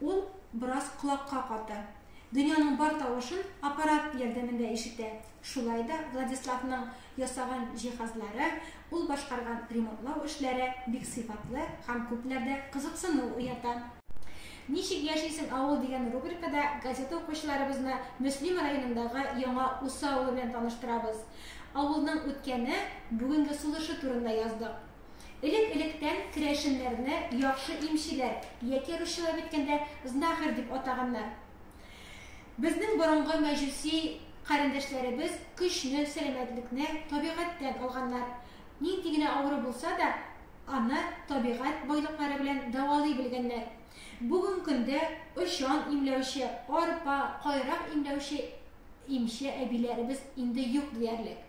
Ул бераз колакка каты. Дөньяның бар тавышын аппарат ярдәмендә ишетә. Шулай да Владиславның ясаган җиһазлары, ул башкарган ремонтлау эшләре бик сыйфатлы һәм күпләрдә кызыксыну уята. Ничек яшисең, авыл? дигән рубрикада газета укучыларыбызны Мөслим районындагы Яңа Усы авылы белән таныштырабыз. Авылның үткәне, бүгенге сулышы турында яздык. Элек-электән керәшеннәрне яхшы имчеләр, яки русчалап әйткәндә, знахарь дип атаганнар. Безнең борынгы мәҗүси карендәшләребез көчне, сәламәтлекне табигатьтән алганнар. Нинди генә авыру булса да, аны табигать байлыклары белән дәвалый белгәннәр. Бүген көндә очан имләүче, арпа, кайрак имләүче имче әбиләребез инде юк диярлек.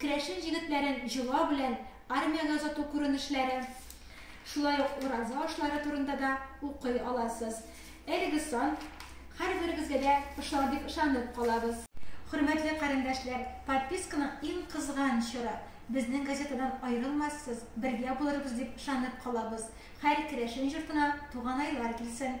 Керәшен җегетләрен җола белән армиягә озату күренешләре, шулай ук ураза ашлары турында да укый аласыз. Әлеге сан һәрберегезгә дә ошар дип ышанып калабыз. Хөрмәтле карендәшләр, подписканың иң кызган чоры. Безнең газетадан аерылмассыз, бергә булырбыз дип ышанып калабыз. Хәр керәшен җортына туганайлар килсен!